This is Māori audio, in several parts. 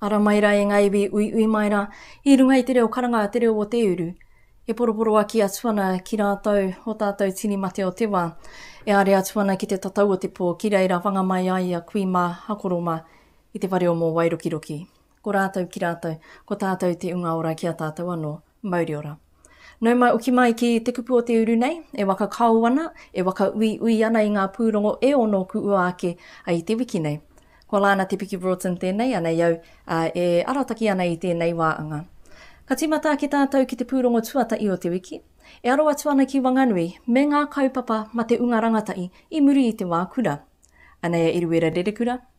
Ara mai ra e nga iwi uiui mai ra i runga i te reo karanga a te reo o te uru. E poroporoaki atu ana ki ratou o tatou tini mate o te wa. E are atu ana ki te tatau o te po ki reira whanga mai ai a kui ma a koro ma i te whare o Mo Wairokiroki. Ko rātou ki rātou, ko tātou te unga ora ki a tātou anō. Mauri ora. Nau mai oki mai ki te kupu o te uru nei, e waka kao ana, e waka uiui ana i ngā pūrongo e ono ku ua ake ai i te wiki nei. Ko Lana Te Piki Broughton tēnei anei au, ā, e arataki ana i tēnei wā anga. Ka tīmata ake tātou ki te pūrongo tuatahi o te wiki, e aro atu ana ki Wanganui me ngā kaupapa mate unga rangatahi i muri i te wā kura. Anei a Eruera Rerekura,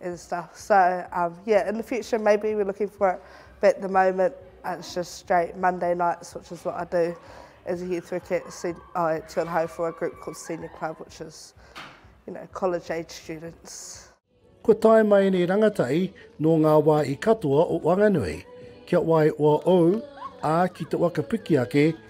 and stuff so um yeah in the future maybe we're looking for it but at the moment uh, it's just straight Monday nights which is what I do as a youth worker at sen- uh, at Tuanahau for a group called Senior Club which is you know college age students Kua tae mai nei rangatai nō ngā wā i katoa o Wanganui, kia wai oa ou, ā ki te waka piki ake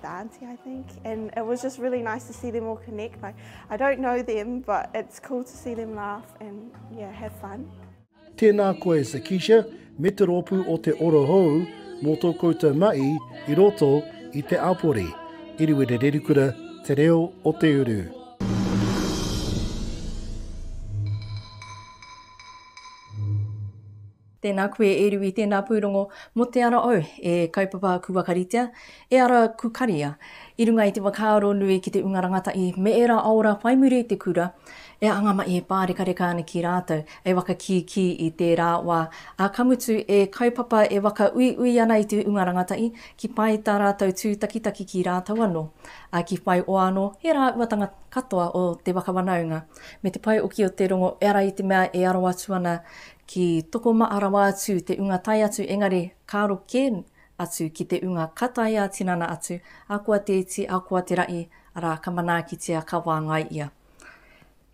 the auntie, I think, and it was just really nice to see them all connect. Like, I don't know them, but it's cool to see them laugh and yeah, have fun. Tēnā koe, Sakisha, me te rōpū o te orohou mō tō koutou mahi i roto i te apore. Iriwere Rerikura, Te Reo o Te Uru. Tēnā koe e Riwi tēnā pūrongo mō te ara au e kaupapa ku wakaritea, e ara ku karia i runga i te whakaaro nui ki te unga rangatahi me ērā aora whai muri i te kura e anga mai e pārekareka ana ki rātou e whakakīkī i tērā wā ā ka mutu e kaupapa e whakauiui ana i te unga rangatahi ki pai tā rātou tūtakitaki ki rātou anō ā ki whai oa anō e rāuatanga katoa o te whakawanaunga me te pae oki o te rongo e ara i te mea e aro atu ana Ki Tokomaha rawa atu te unga tae atu engari karo ke atu ki te unga ka taea tinana atu, akoa te iti, akoa te raʻi, ara ka manaakitia ka wāngai ia.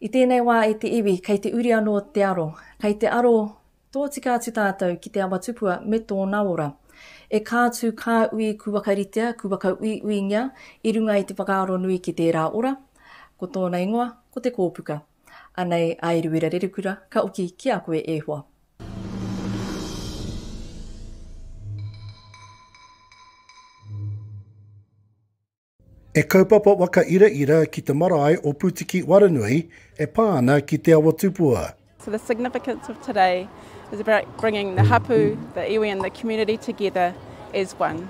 I tēnei wā e te iwi kei te uri anō te aro, kei te aro tōtika atu tātou ki te awa tupua me tōna ora. E kā tū kā ui ku wakaritea, ku wakauiuingia i runga i te whakaaro nui ki tērā ora, ko tōna ingoa ko te kōpuka. Anei a Eruera Rerekura ka oki ki a koe e hoa. He kaupapa waka iraira ki te marae o Putiki Waranui e pā ana ki Te Awa Tupua. So the significance of today is about bringing the hapu, the iwi and the community together as one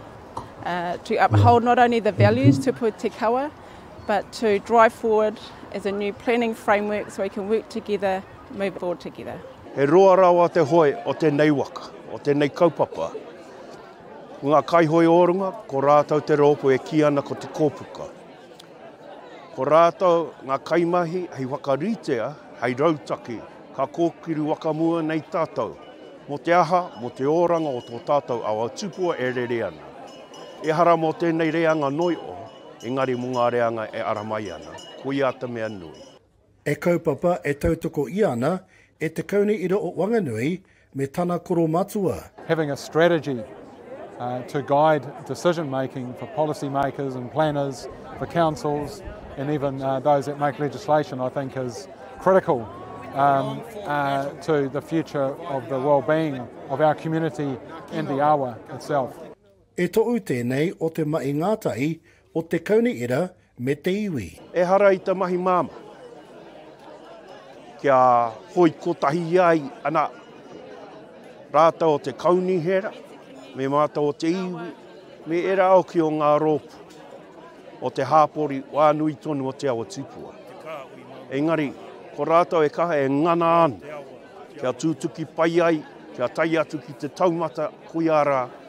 to uphold not only the values tupu te kawa, but to drive forward as a new planning framework so we can work together, move forward together. He roa rawa te hoe o tēnei waka, o tēnei kaupapa. Ko ngā kaihoe o runga, ko rātou te rōpū e kī ana ko Te Kōpuka. Ko rātou ngā kaimahi hei whakaritea, hei rautaki, ka kōkiru wakamua nei tātou, mō te aha, mō te oranga o tō tātou awa tupua e rere ana. Ehara mō tēnei reanga noi o, engari mō ngā reanga e ara mai ana, ko ia te mea nui. E kaupapa, e tautoko ia ana, e te kauni ira o Wanganui me tana koro matua. Having a strategy to guide decision making for policy makers and planners, for councils and even those that make legislation I think is critical to the future of the wellbeing of our community and the awa itself. E toʻu tēnei o te maʻi ngātahi o te Kauni Era me te iwi. Ehara i te mahi māmā kia hoi kotahi ai ana rātou o te Kauni Hera me mātou o te iwi me era hoki o ngā rōpu o te hāpori wā nui tonu o te awa tupua. Engari, ko rātou e kaha e ngana ana kia tūtuki pai ai, kia tae atu ki te taumata, koiā rā,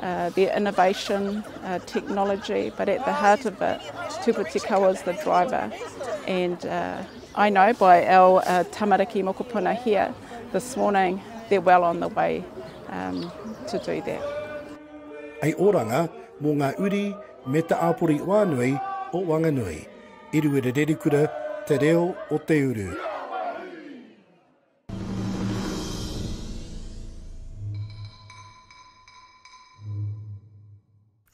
Their innovation, technology, but at the heart of it, Tūpatikawa is the driver. And I know by our tamariki mokopuna here this morning, they're well on the way to do that. Hei oranga mō ngā uri me te āpori whānui o Wanganui. Eruere Rerikura, Te Reo o Te Uru.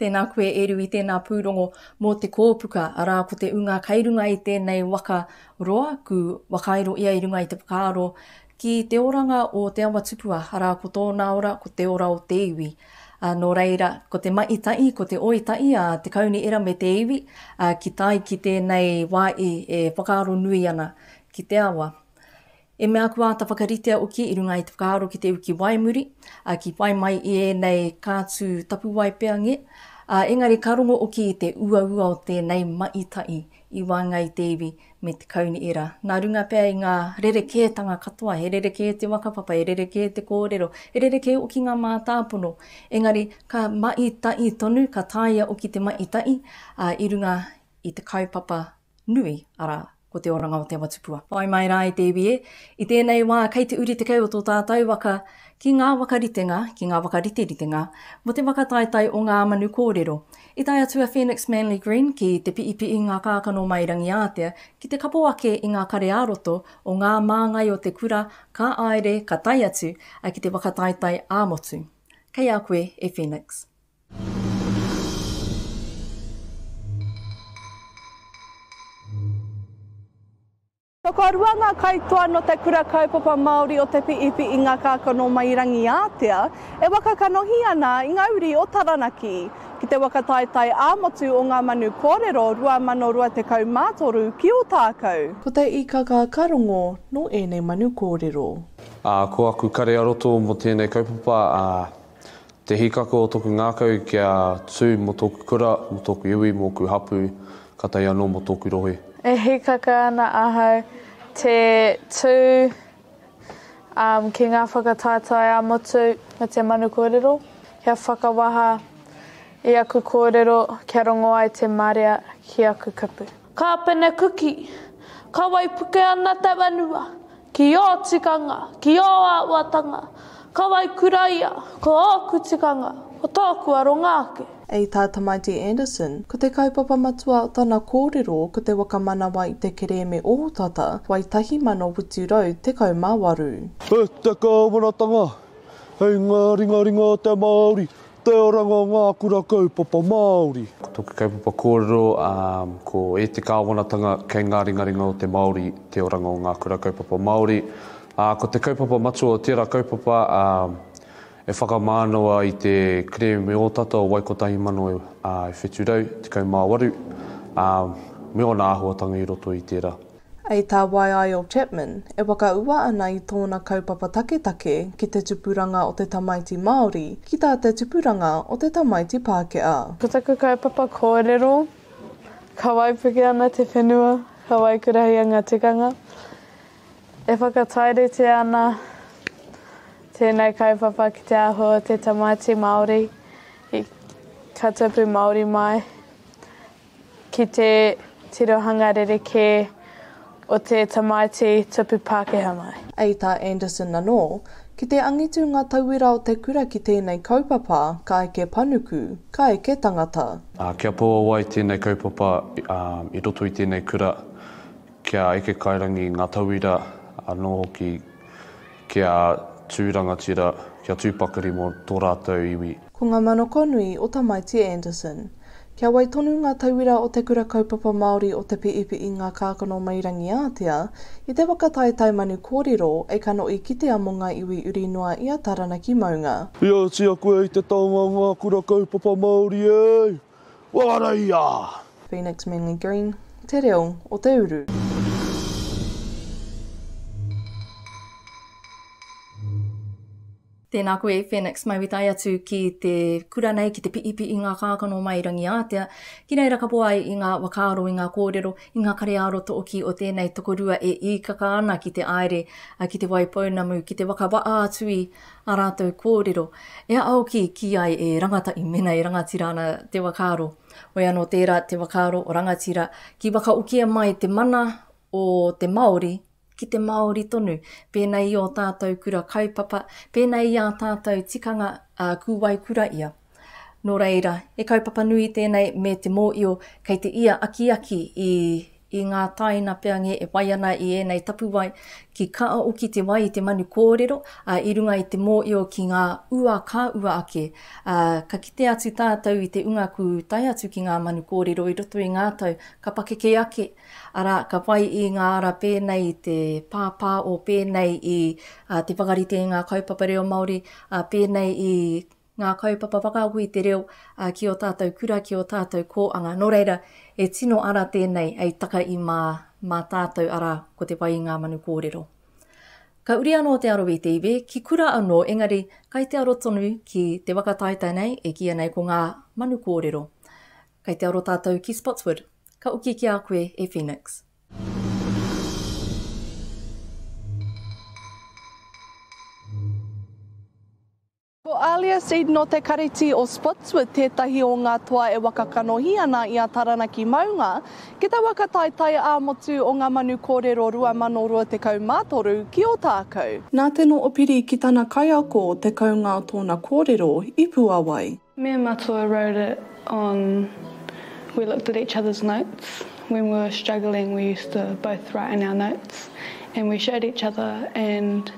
Tēnā koe e Rui, tēnā Pūrongo mō te kōpuka, arā ko te ūnga kei runga i tēnei waka roa, ku whakairo ia i runga i te whakaaro ki te oranga o Te Awa Tupua, arā ko tōna ora ko te ora o te iwi. Ā, nō reira, ko te maʻi taʻi, ko te oi taʻi a Te Kauniera me te iwi, ā, ki tai ki tēnei wā i e whakaaro nui ana ki te awa. I mea kua āta whakaritea hoki i runga i te whakaaro ki te uki wai muri, ā, ki whai mai i ēnei kātū tapuwae pea nge, ā, engari ka rongo hoki i te uaua o tēnei maitai i waenga i te iwi me te kauni ira. Nā runga pea i ngā rerekētanga katoa, he rerekē te whakapapa, he rerekē te kōrero, he rerekē hoki ngā mātāpono, engari ka maitai tonu, ka tāia hoki te maitai, ā, i runga i te kaupapa nui, arā, ko te oranga o te awa-tupua. Whai mai rā e te iwi e, i tēnei wā kei te uri tekau o tō tātau waka ki ngā wakaritenga, ki ngā whakariteritenga mō te whakataetae o ngā manu kōrero. I tae atu a Phoenix Manly Green ki te piipii ngā kākano mai Rangiātea ki te kapo ake i ngā kare ā-roto o ngā māngai o te kura ka āere ka tae atu ki te whakataetae ā-motu. Kei a koe e Phoenix. Tokorua ngā kaitoa nō te Kura Kaupapa Māori o Te Piipi i ngā kākano mai Rangiātea e waka kanohi ana i ngā uri o Taranaki. Ki te waka taetae ā-motu o Ngā Manu Kōrero 2023 ki Ōtākou. Ko te īkaka ka rongo nō ēnei manu kōrero. Ā, ko aku kare a roto mō tēnei kaupapa, ā, Te hīkaka o toku ngākau kia tū mo toku kura, mo toku iwi, moku hapu, ka tae anō mo toku rohe. E hīkaka ana ahau te tū ki ngā whakataetae ā-motu me te manu kōrero, kia whakawaha i aku kōrero kia rongo ai te marea ki aku kupu. Ka penekuki, ka waipuke ana te whenua, ki ō tikanga, ki ō auatanga, ka waikura ia, ko ōku tikanga, ko tōku aronga ake. I tā Tamaiti Anderson, ko te kaupapa matua o tana kōrero ko te whakamanawa i te kerēme ohotata wai 1818. He te kāwanatanga hei ngā ringaringa o te Māori Te oranga o ngā kura kaupapa Māori. Ko tōku kaupapa kōrero ko E te Kāwanatanga kei ngā ringaringa o te Māori te oranga o ngā kura kaupapa Māori. Ko te kaupapa matua o tērā kaupapa e whakamānawa i te kerēme ōtata o Wai 1718 me ōna āhuatanga i roto i tērā. Ei tā Waiaio Chapman, e whakaua ana i tōna kaupapa taketake ki te tupuranga o te tamaiti Māori ki tā te tupuranga o te tamaiti Pākehā. Ko taku kaupapa kōrero, ka waipuke ana te whenua, ka waikurahia ngā tikanga. E whakatairitea ana tēnei kaupapa ki te āhua o te tamaiti Māori, ka tupu Māori mai. ki te tirohanga rerekē o te tamaiti tupu Pākehā mai. I tā Anderson anō, ki te angitu ngā tauira o te kura ki tēnei kaupapa, ka eke panuku, ka eke tangata. Kia puawai tēnei kaupapa i roto i tēnei kura, kia eke kairangi ngā tauira anō hoki. Kia tū rangatira, kia tū pakari mō tō rātou iwi. Ko ngā manoko nui o Tamaiti Anderson. Kia wai tonu ngā tauira o Te Kura Kaupapa Māori o Te Piipi'i Ngā Kākano Mairangiātea i te waka taetae manu kōrero e kanohi kitea mō ngā iwi uri noa i a Taranaki maunga. Ia oti aku e i te taonga o ngā kura kaupapa Māori e! Whakaraia! Phoenix Manly Green, te reo o te uru. Tēnā koe Phoenix, mai witai atu ki te kura nei ki te piipii ngā kākano mai Rangiātea, ki reira ka po ai i ngā wakaaro, i ngā kōrero, i ngā kareāro tooki o tēnei tokorua e iikaka ana ki te aere, ki te wai pounamu, ki te waka waa atu i. Ā rātou kōrero, e aoki kī ai e rangatahi mēnā e rangatira ana te whakaaro. Hoi anō tērā te whakaaro o rangatira, ki whakaokia mai te mana o te Māori ki te Māori tonu, pēnei i ō tātou kura kaupapa, pēnei i ā tātou tikanga ā kūwai kura ia. Nō reira, he kaupapa nui tēnei me te mōio kei te ia akiaki i i ngā tāina peange e whai ana i ēnei tapuwae ki kaao ki te wai i te manu kōrero a, i runga i te mōio ki ngā ua ka ua ake a, ka kite atu tātou i te unga ku tae atu ki ngā manu kōrero i roto i ngā tau ka pakeke ake arā ka whai i ngā ara pēnei i te pāpā o pēnei i a, te whakarite i ngā kaupapa reo Māori a, pēnei i ngā kaupapa whakaako i te reo ki ō tātou kura, ki ō tātou kōanga. Nō reira, he tino ara tēnei hei taka i mā, mā tātou, arā, ko te whai i ngā manu kōrero. Ka uri anō te aro i te iwi, ki kura anō, engari, kai te aro tonu ki te waka taetae nei, e kīia nei ko ngā manu kōrero. Kai te aro tātou ki Spotswood. Ka oki ki a koe e Phoenix. Ko Alia Seed nō Te Kariti o Spotswood tētahi o ngā toa e waka kanohi ana i a Taranaki Maunga ki te waka taetae ā-motu o ngā manu kōrero 2023 ki Ōtākou. Nā te noho piri ki tana kaiako o te kounga o tōna kōrero i Puawai. Me and Matua wrote it on we looked at each other's notes when we were struggling we used to both write in our notes and we showed each other and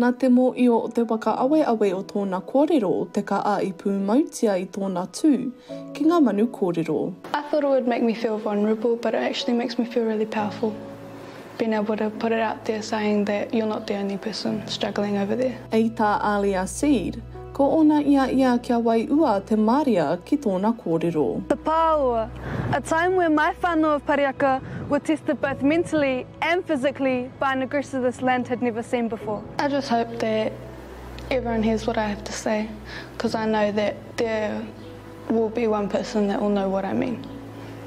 Nā te mōio o te whakaaweawe o tōna kōrero te kaha i pūmautia i tōna tū ki ngā manu kōrero. I thought it would make me feel vulnerable but it actually makes me feel really powerful being able to put it out there saying that you're not the only person struggling over there. I tā Alia Seed, Ko ōna i a ia kia waiua te maria ki tōna kōrero. The Pāoa, a time where my whānau of Pariaka were tested both mentally and physically by an aggressor this land had never seen before. I just hope that everyone hears what I have to say, cause I know that there will be one person that will know what I mean,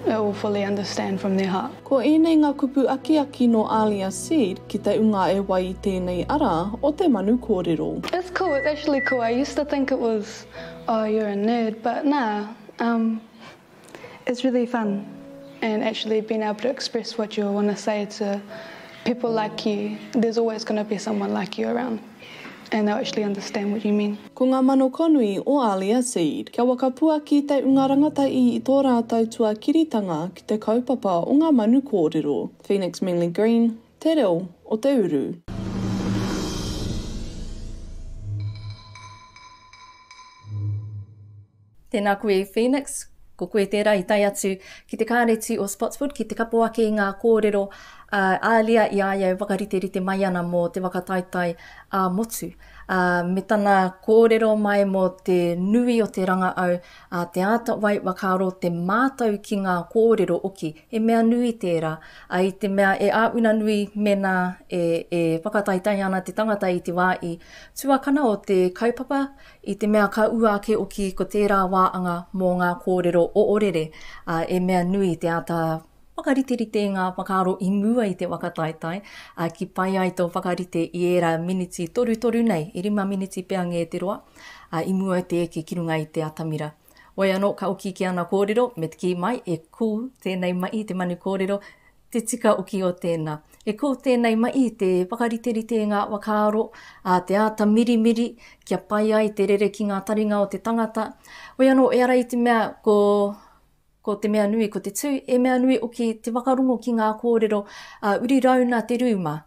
that will fully understand from their heart. Ko ēnei ngā kupu akiaki nō Alia Seed ki te unga e wai i tēnei ara o te manu kōrero. It's cool, it's actually cool, I used to think it was oh you're a nerd but nā um it's really fun and actually being able to express what you want to say to people like you, there's always going to be someone like you around. and they'll actually understand what you mean. Ko ngā mano konui o Alia Seed. Kia wakapuaki te unga rangatahi i tō rātou tuakiritanga ki te kaupapa o ngā manu kōrero, Phoenix Manly Green, Te Reo o te Uru. Tēnā koe Phoenix, ko koe tērā i tae atu ki te Kāreti o Spotswood ki te kapo ake i ngā kōrero a Alia i a ia e whakariterite mai ana mō te whakataetae ā-motu, ā, me tana kōrero mai mō te nui o te rangaau, ā, te āta wai whakaaro, te mātau ki ngā kōrero oki, he mea nui tērā, ā, i te mea e āwina nui mēnā e, e whakataetae ana te tangata i te wā i tuakana o te kaupapa I te mea ka ua ake oki ko tērā wā anga mō ngā kōrero oorere, ā, e mea nui te āta whakariterite i ngā whakaaro i mua i te waka taetae, ā, ki pai ai tō whakarite i ērā miniti torutoru nei, e rima miniti pea ngē te roa, ā, i mua i te eke ki runga i te atamira. Wai anō ka oki ki ana kōrero, me te kī mai, e kū tēnei mahi te manu kōrero, Te tika oki o tēnā. E kō tēnei mahi te whakariterite i ngā whakaaro, ā, te āta mirimiri kia pai ai te rere ki ngā taringa o te tangata. Hoi anō, ehara i te mea ko, ko te mea nui ko te tū, e mea nui oki te whakarongo ki ngā kōrero, ā, uri rāuna te rūma,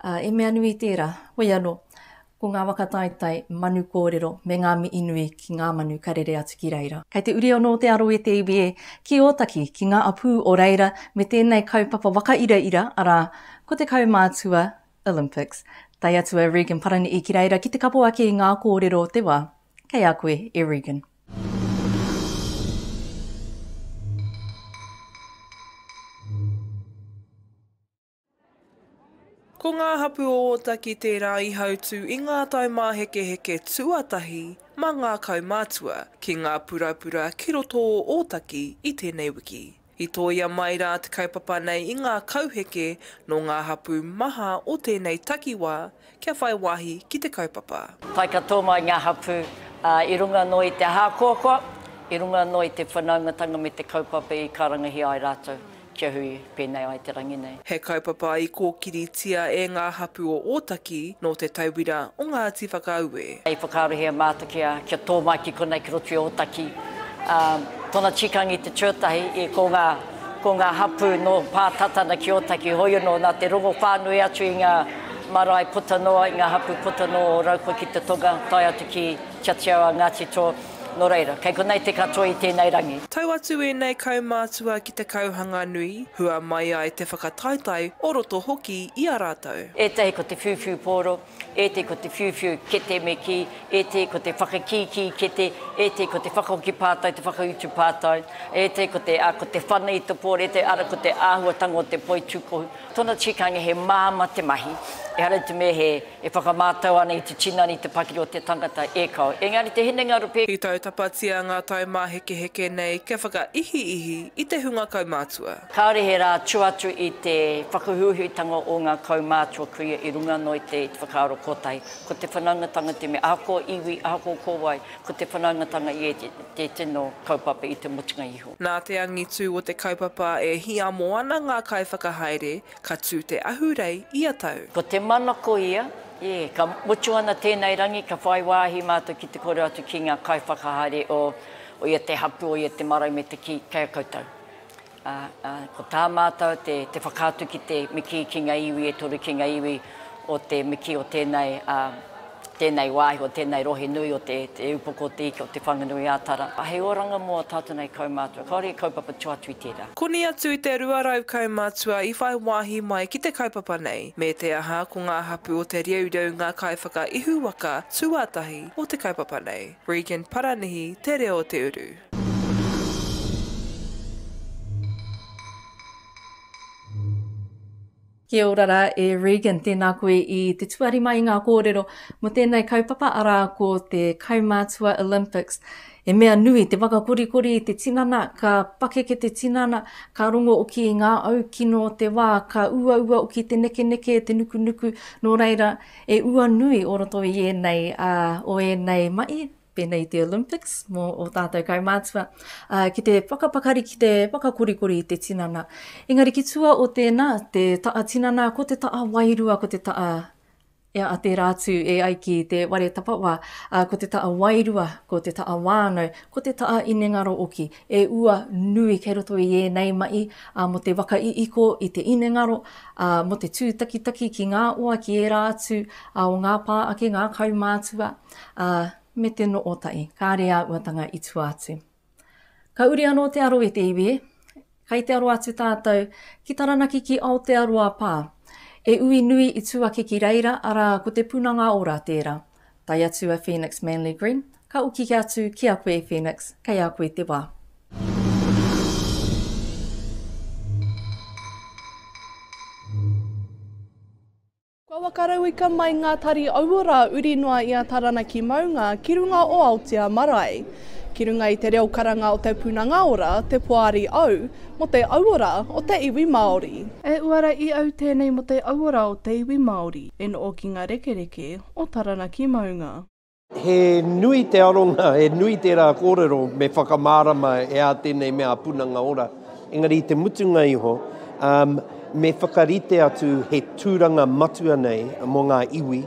ā, e mea nui tērā. Hoi anō, Ko ngā waka taetae, manu kōrero me ngā mihi nui ki ngā manu ka rere atu ki reira. Kei te uri anō te aro e te iwi e, ki Ōtaki, ki ngā apū o reira me tēnei kaupapa wakairaira, arā, ko te kaumātua, Olympics. Tae atu a Regan Parani'i ki reira ki te kapo ake i ngā kōrero o te wā. Kei a koe e Regan. Ko ngā hapū o Ōtaki tērā i hautū i ngā taumāhekeheke tuatahi mā ngā kaumātua ki ngā purapura ki roto o Ōtaki i tēnei wiki. I tōia mai rā te kaupapa nei i ngā kauheke nō ngā hapū maha o tēnei takiwā kia whai wāhi ki te kaupapa. Pai katoa mai ngā hapū i runga noa i te ahakoakoa, i runga noa i te whanaungatanga me te kaupapa i karangahia ai rātou kia hui pēnei ai te rangi nei. He kaupapa i kōkiritia e ngā hapū o Ōtaki nō te tauira o Ngāti Whakaue. I whakaarohia e Mātakea kia tō mai ki konei ki roto i Ōtaki. Tōna tīkanga i te tuatahi, ko ngā. Ko ngā hapū nō Pātatana ki Ōtaki hōia nō nā te rongo whānui atu i ngā marae puta noa, i ngā hapū puta noa o Raukwa ki te tonga, tae atu ki Kia Teo a Ngāti Tō. Nō reira, kei konei te katoa i tēnei rangi. Tau atu ēnei kaumātua ki te kauhanga nui, hua mai ai te whakataetae o roto hoki i a rātou. Ētahi ko te whiuwhiu pōro. e te ko te whiuwhiu kete me kī, e te ko te whakakīkī kete, e te ko te whakahoki pātai, te whakautu pātai, e te ko te, ā, ko te whana i te pōrete, arā, ko te āhuatanga o te poi tūkohu. Tōna tikanga he māmā te mahi, ehara i te mea he, e whakamātau ana i te tinana, i te pakiri o te tangata, e kāo. Engari te hinengaro pē. I tautapatia ngā taumāhekeheke nei kia whakaihiihi i te hunga kaumātua. Kāore he rā tua atu i te whakahuhuitanga o ngā kaumātua kuia i runga anō i te whakaaro kotahi. Ko te whanaungatanga te mea ako iwi, ako kōwae, ko te whanaungatanga i te tino kaupapa i te mutunga iho. Nā te angitū o te kaupapa e hiamo ana ngā kaiwhakahaere ka tū te ahurei ia tau. Ko te mana koia, e, ka mutu ana tēnei rangi, ka whai wāhi mātou ki te kore atu ki ngā kaiwhakahaere o ia te hapū, o ia te marae me te kī, kei a koutou. Ā, ko tā mātou te, te whakaatu ki te miki ki ngā iwi e toru, ki ngā iwi o te miki o tēnei, ā, tēnei wāhi, o tēnei rohe nui o te, te Upoko o te Ika o Te Whanganui-ā-Tara. Ā, hei oranga mō ō tātou nei kaumātua, kāore i kaupapa tō atu i tērā. Koni atu i te rua rau kaumātua i whai wāhi mai ki te kaupapa nei, me te aha, ko ngā hapū o Te Reureau ngā kaiwhakaihu waka tuatahi o te kaupapa nei. Regan Paranihi, Te Reo o Te Uru. Kia ora rā e Regan, tēnā koe i te tuari mai i ngā kōrero mō tēnei kaupapa arā ko te Kaumātua Olympics. He mea nui te whakakorikori i te tinana, ka pakeke te tinana, ka rongo oki i ngā au kino o te wā, ka uaua oki te nekeneke, te nukunuku, nō reira, e ua nui o roto i ēnei, ā, o ēnei mahi, pēnei i te Olympics mō o tātou kaumātua, uh, ki te whakapakari, ki te whakakorikori i te tinana. Engari ki tua o tēnā, te taa tinana, ko te taa wairua, ko te taa e a te rātu e ai ki te ware tapawa, uh, ko te taa wairua, ko te taa wānau, ko te taa inengaro oki, e ua nui kei roto i ēnei mai uh, mo te waka i iko i te inengaro, uh, mo te tūtakitaki ki ngā oa, ki ērā atu uh, o ngā pā ake, ngā kaumātua, Ā, me te no o taʻi, kāre ā uatanga i tua atu. Ka uri anō te aro i te iwi e. Kai te aro atu tātou ki Taranaki ki Aotearoa pā. E ui nui i tuaki ki reira, arā, ko te punanga ora tērā. Tae atu a Phoenix Manly Green, ka uki atu ki a koe Phoenix, kei a koe te wā. Kua wakarauika mai ngā tari aua rā uri noa i a Taranaki maunga ki runga o Aotea marae. Ki runga i te reo karanga o Te Punanga Ora, te Poari Au, mo te auora o te iwi Maori. E uara i au tēnei mo te auora o te iwi Maori, e noo ki nga rekereke o Taranaki maunga. He nui te aronga, he nui tērā kōrero me whakamārama e ā tēnei mea punanga ora. Engari i te mutunga iho, me whakarite atu he tūranga matua nei mō ngā iwi,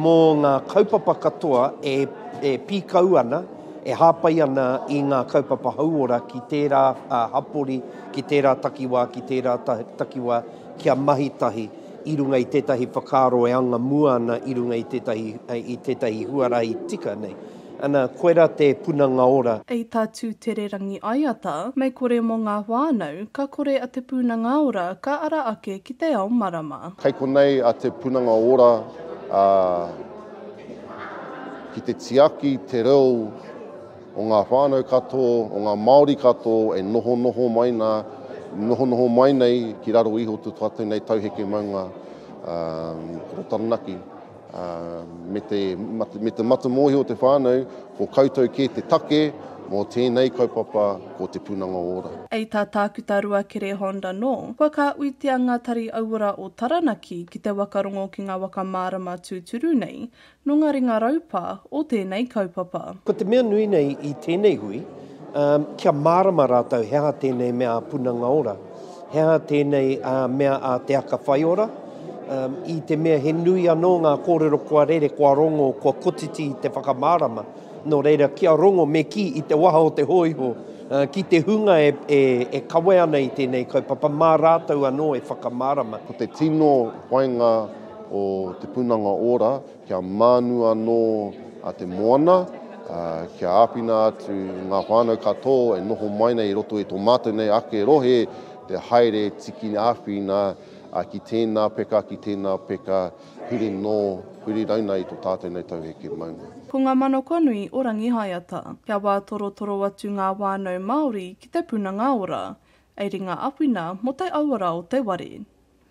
mō ngā kaupapa katoa e e pīkau ana, e hāpai ana i ngā kaupapa hauora ki tērā hapori, ki tērā takiwā, ki tērā takiwā kia mahi tahi. i runga i tētahi whakaaro e anga mua ana i runga i tētahi, i tētahi huarahi tika nei. Ana, koirā te punanga ora. I tā Tūtererangi Aiata, mei kore mō ngā whānau, ka kore a Te Punanga Ora ka ara ake ki te ao marama. Kei konei a Te Punanga Ora ki te tiaki te reo. o ngā whānau katoa, o ngā Māori katoa e nohonoho mai nā, nohonoho mai nei ki raro iho tū tātou nei tauheke maunga kura Taranaki. Me te, me te matamōhio o te whānau, ko koutou kē te take mō tēnei kaupapa ko Te Pūnanga Ora. Hei tā Tākuta Ruakere Hond anō, kua kāuitia ngā tari auora o Taranaki ki te waka rongo ki ngā waka mārama tūturu nei, Nō ngā ringa raupā o tēnei kaupapa. Ko te mea nui nei i tēnei hui, kia mārama rātou he aha tēnei mea a Punanga Ora, he aha tēnei mea a Te Aka Whai Ora, i te mea he nui anō ngā kōrero kua rere, kua rongo, kua kotiti te whakamārama. Nō reira, kia rongo me kī i te waha o te hōiho, ki te hunga e kawe ana i tēnei kaupapa, mā rātou anō e whakamārama. Ko te tino whainga o Te Punanga Ora kia mānu anō te moana, kia āwhina atu i ngā whānau katoa e noho mai nei i roto i tō mātou nei ake rohe te haere tiki āwhina ki tēnā peka, ki tēnā peka, huri nō, huri rauna i tō tātou nei tauheke maunga. Ko ngā manoko nui o Rangihaeata, kia wā torotoro atu ngā whānau Māori ki Te Punanga Ora, ei ringa awhina mō te auara o te ware.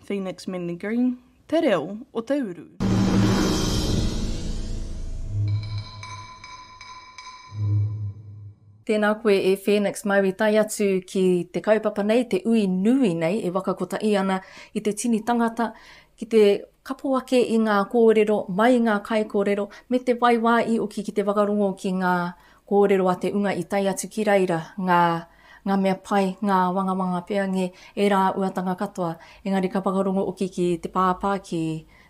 Phoenix Manly Green, te reo o te uru. Tēnā koe e Phoenix mau i tae atu ki te kaupapa nei, te ui nui nei e waka kotahi ana i te tini tangata ki te kapo ake i ngā kōrero mai ngā kaikōrero me te waiwā i oki ki te whakarongo ki ngā Kōrero a Te Unga i tae atu ki reira ngā ngā mea pai, ngā wangawanga pea ngē, ērā uatanga katoa. Engari ka whakarongo oki ki te pāpā, ki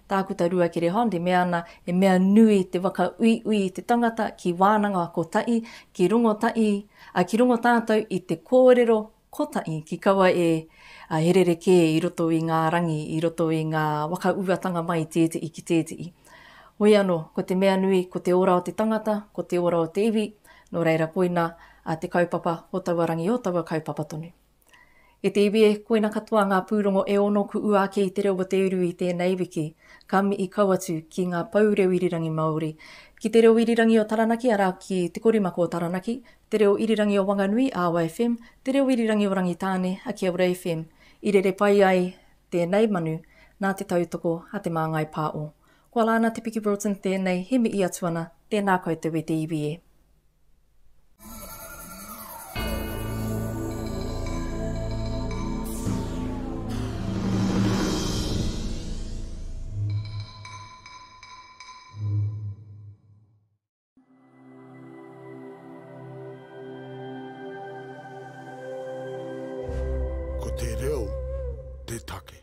Tākuta Rua Kerehond i mea ana, he mea nui te whakauiui i te tangata ki wānanga kotahi, ki rongo tahi, ā, ki rongo tātou i te kōrero Kotahi, ki kaua e, he rerekē i roto i ngā rangi, i roto i ngā whakauatanga mai tētehi ki tētehi. Hoi anō, ko te mea nui, ko te ora o te tangata, ko te ora o te iwi, nō reira koina te kaupapa o taua rangi, o taua kaupapa tonu. E te iwi e, koina katoa ngā pūrongo e ono kuʻu ake i te reo o Te Uru i tēnei wiki, ka mihi kau atu ki ngā pou reo irirangi Māori, ki te reo irirangi o Taranaki arā, ki Te Korimako o Taranaki, Te Reo Irirangi o Wanganui, Awa FM, Te Reo Irirangi o Rangitāne, Akiaura FM, i rere pai ai tēnei manu nā te tautoko a Te Māngai Pā'o. Kua la ana Te Piki Broughton tēnei he mihi atu ana, tēnā koutou e te iwi e. Ko te reo te take.